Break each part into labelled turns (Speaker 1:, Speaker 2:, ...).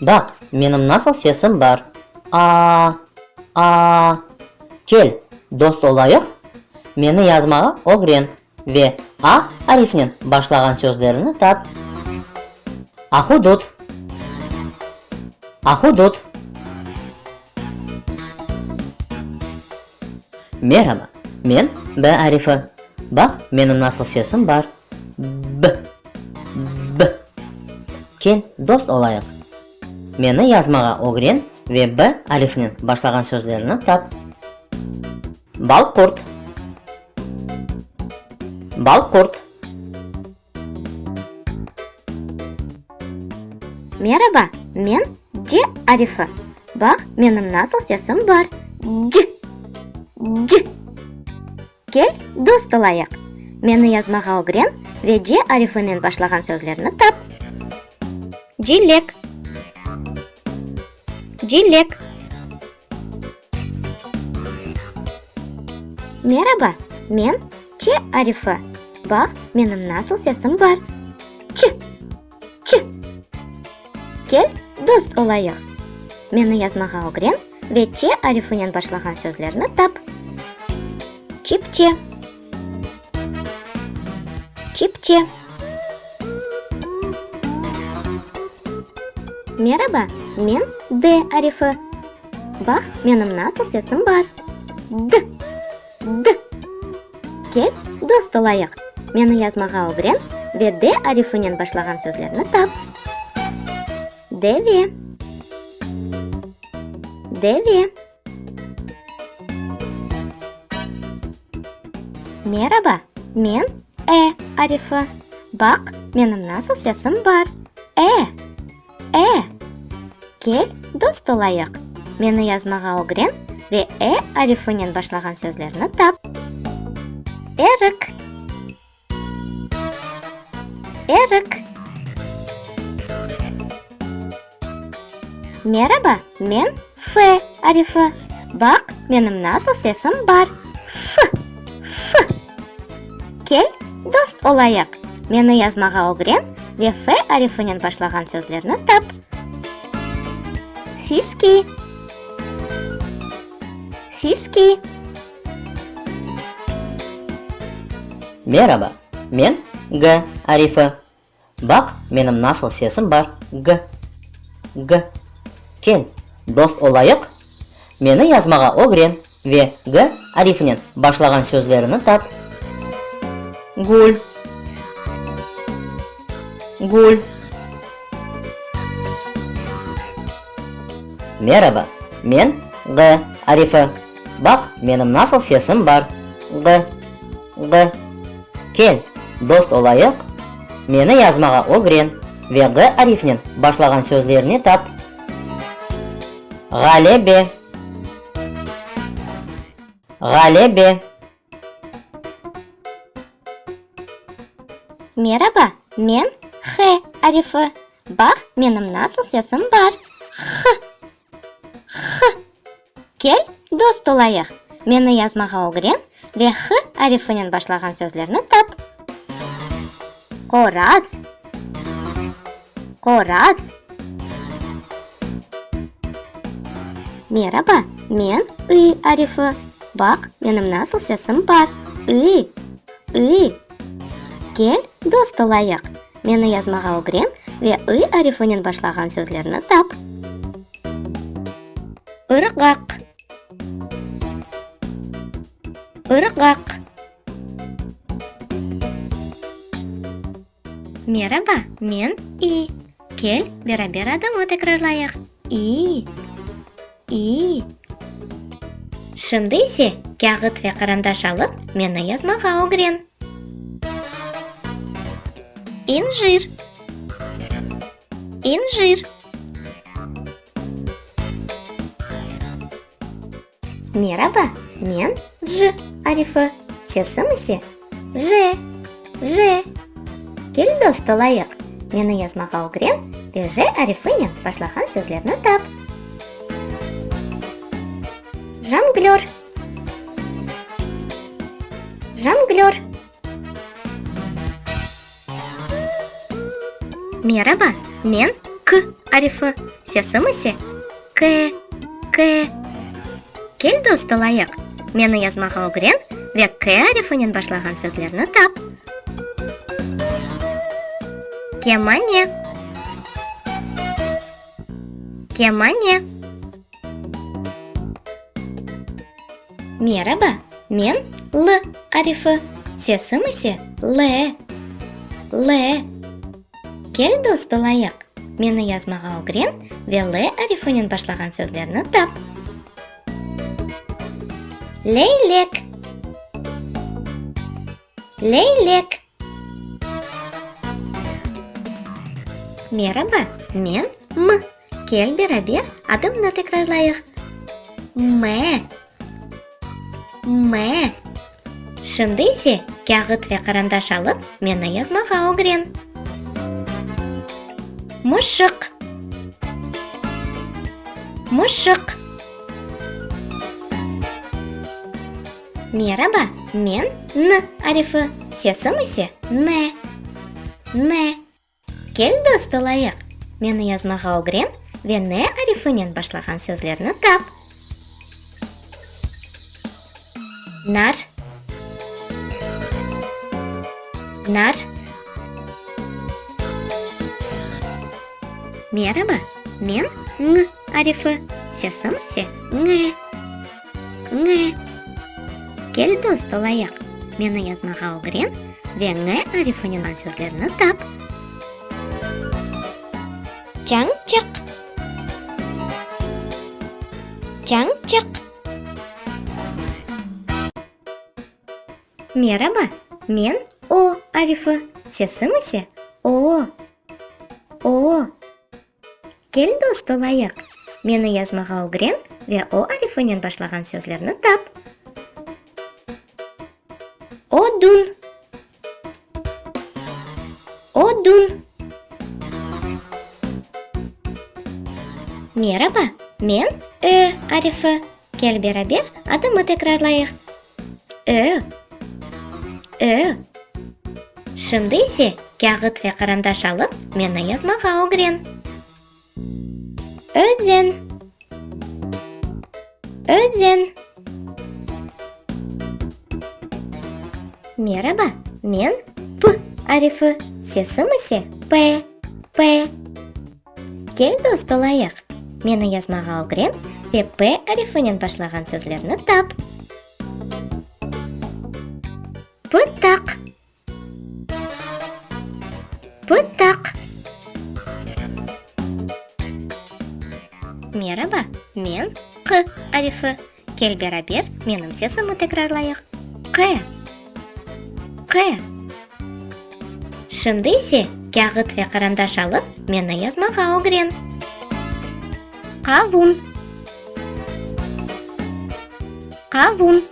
Speaker 1: Baq, menim nasıl sesim bar, a-a, a-a! Kel, dost olayıq? Meni yazmağa ögren ve a arifnen başlağan sözlerini tap. Ahudut, ahudut. Merhaba, men b arifi. Baq, menim nasıl sesim bar. B B Kel, dost olayıq. Meni yazmağa ögren ve B alifnen başlağan sözlerni tap. Balqurt Balqurt Meraba, men C arifi. Baq, menim nasıl sesim bar, C C Kel, dost olayıq! Meni yazmağa ögren ve ce arifinen başlağan sözlerni tap. Cilek. Cilek. Meraba, men, ce arifi. Baq, menim nasıl sesim bar. Çı! Ç. Kel, dost olayıq. Meni yazmağa ögren ve Ç arifinen başlağan sözlerni tap. Çipçe. Çipçe. Meraba, men D arifi. Bax, menim nasıl sesim bar. D. D. Kel, dost olayıq. Meni yazmağa ögren ve D arifinen başlağan sözlerni tap. Deve. Deve. Meraba, men E arifi. Baq, menim nasıl sesim bar. E. E. Kel, dost olayıq. Meni yazmağa ögren ve e arifinen başlağan sözlerni tap. Erik. Erik. Meraba, men F arifi, Baq, menim nasıl sesim bar, fı! fı! Kel, dost olayıq, meni yazmağa ögren ve F arifinen başlağan sözlerni tap. Fiski, fiski. Meraba, men G arifi, Baq, menim nasıl sesim bar, g, g. Kel, dost olayıq? Meni yazmağa ögren ve g arifinen başlağan sözlerini tap. Gül, gül. Meraba, men, g arifi. Baq, menim nasıl sesim bar, g. Ğ. Kel, dost olayıq, meni yazmağa ögren ve ğ arifnen başlağan sözlerni tap. Ğalebe. Ğalebe. Meraba, men H arifi. Bax, menim nasıl sesim bar. H. H. Kel, dost olayıq. Meni yazmağa ögren ve H arifinen başlağan sözlerni tap. Qoraz, qoraz. Meraba, men I arifi. Baq, menim nasıl sesim bar, I, I. Kel, dost olayıq. Meni yazmağa ögren ve ı arifonen başlağan sözlerni tap. Irğaq. Irğaq. Meraba, men İ. Kel, beraber adımı tekrarlayıq, İ. İyi. Şimdi ise kâğıt ve qarandaş alıp meni yazmağa ögren. İncir. İncir. Meraba, men C arifı, sesim ise. Je, je. Kel, dost, olayıq. Meni yazmağa ögren ve je arifinen başlağan sözlerni tap. Jonglör. Jonglör. Meraba, men K arifi, sesim ise K, K. Kel dost olayıq, meni yazmağa ögren ve K arifinen başlağan sözlerni tap. Kemane, kemane. Meraba, men L arifi, sesim ise L. L. Kel, dost olayıq, meni yazmağa ögren ve L arifinen başlağan sözlerni tap. Leylek. Leylek. Meraba, men M. Kel beraber adımnı tekrarlayıq, Me. Me. Şimdi ise kâğıt ve qarandaş alıp, meni yazmağa ögren. Mışıq. Mışıq. Meraba, men N arifi, sesim ise Ne. Ne. Kel dost olayıq, Meni yazmağa ögren ve Ne arifinen başlağan sözlerni tap. Nar. Nar. Meraba, men Ñ arifi, sesim ise Ne. Ñ, Kel dost olayıq. Meni yazmağa ögren ve ñ arifini olan sözlerni tap. Çañçıq. Çañçıq. Meraba, men o arifi, sesim ise o. O. Kel dost olayıq! Meni yazmağa ögren ve o arifınen başlağan sözlerni tap. Odun. Odun. Meraba, men Ö arifi. Kel beraber adımı tekrarlayıq, ö, ö. Şimdi ise kâğıt ve qarandaş alıp meni yazmağa ögren. Özen, özen. Meraba, men P arifi, sesim ise P, P. Kel dost olayıq. Meni yazmağa ögren ve P arifinen başlağan sözlerni tap. Pıtaq. Pıtaq. Meraba, men Q arifi. Kel beraber menim sesimni tekrarlayıq, qe, qe. Şimdi ise kâğıt ve qarandaş alıp meni yazmağa ögren. Qavun, qavun.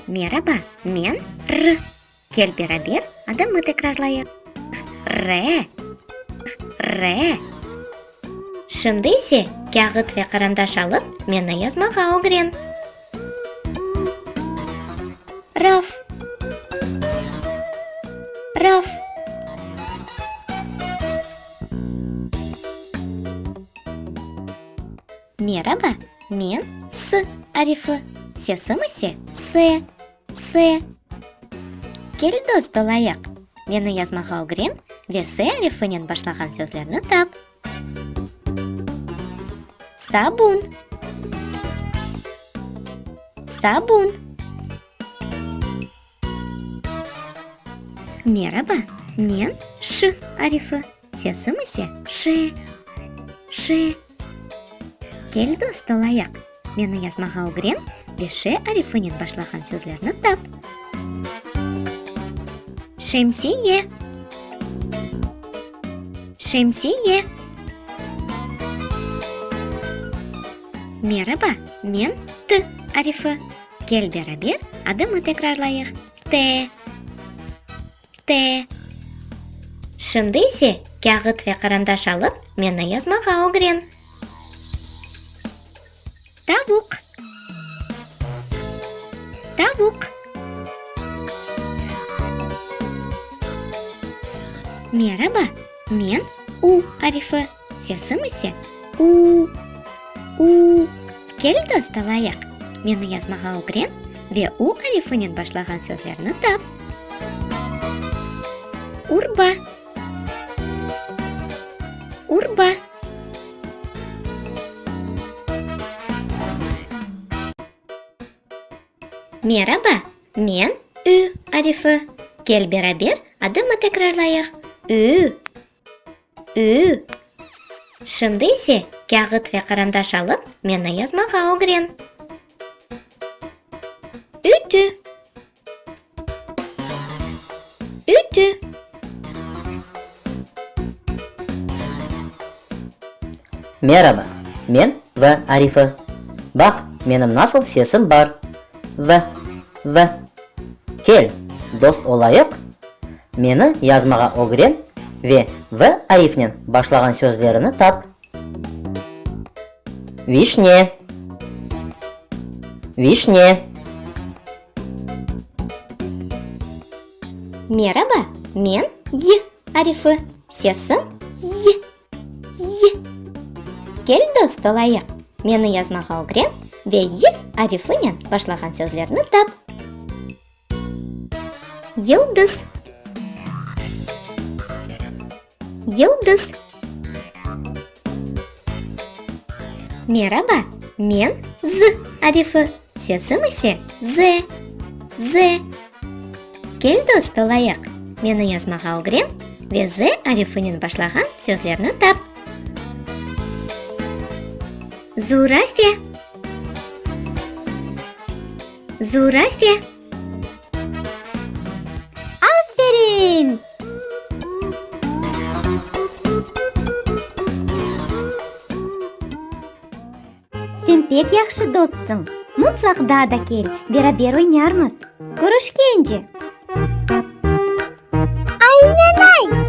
Speaker 1: Meraba, men R. Kel beraber adımnı tekrarlayıq, Re, re. Şimdi ise kâğıt ve qarandaş alıp meni yazmağa ögren. Raf, raf. Meraba, men S arifı, sesim ise S. S. Kel dost olayıq. Meni yazmağa ögren ve S arifinen başlağan sözlerni tap. Sabun. Sabun. Meraba, men Ş arifi. Sesim ise, şe, şe. Kel dost ol ayaq, meni yazmağa ögren ve şe arifinen başlağan sözlerni tap. Şemsiye, şemsiye. Meraba, men T arifi. Kel beraber adımı tekrarlayıq, T. T. Şimdi ise kâğıt ve qarandaş alıp, meni yazmağa ögren. Tavuq. Tavuq. Meraba, men U arifi. Sesim ise u, u. Kel, dost, alayıq, meni yazmağa ögren ve u arifinen başlağan sözlerni tap. Urba, urba. Meraba, men ü arifi. Kel, beraber adımı tekrarlayıq, ü. Ü, Şimdi ise kâğıt ve qarandaş alıp, meni yazmağa ögren. Ütü, Ütü, Meraba, men V. Arifi. Baq, menim nasıl sesim bar. V. V. Kel, dost olayıq, meni yazmağa ögren ve V arifnen başlağan sözlerini tap. Vişne, vişne. Meraba, men Y arifi, sesim Y. Y. Kel dost olayıq. Meni yazmağa ögren ve y arifınen başlağan sözlerni tap. Yıldız. Yıldız. Meraba, men z arifı, sesim ise z. Z Kel dost olayıq! Meni yazmağa ögren ve Z arifinen başlağan sözlerni tap. Zurafe Zurafe. Sen pek yahşı dostsıñ. Mutlaq daa da kel, beraber oynarmız. Körüşkence! Aynenay!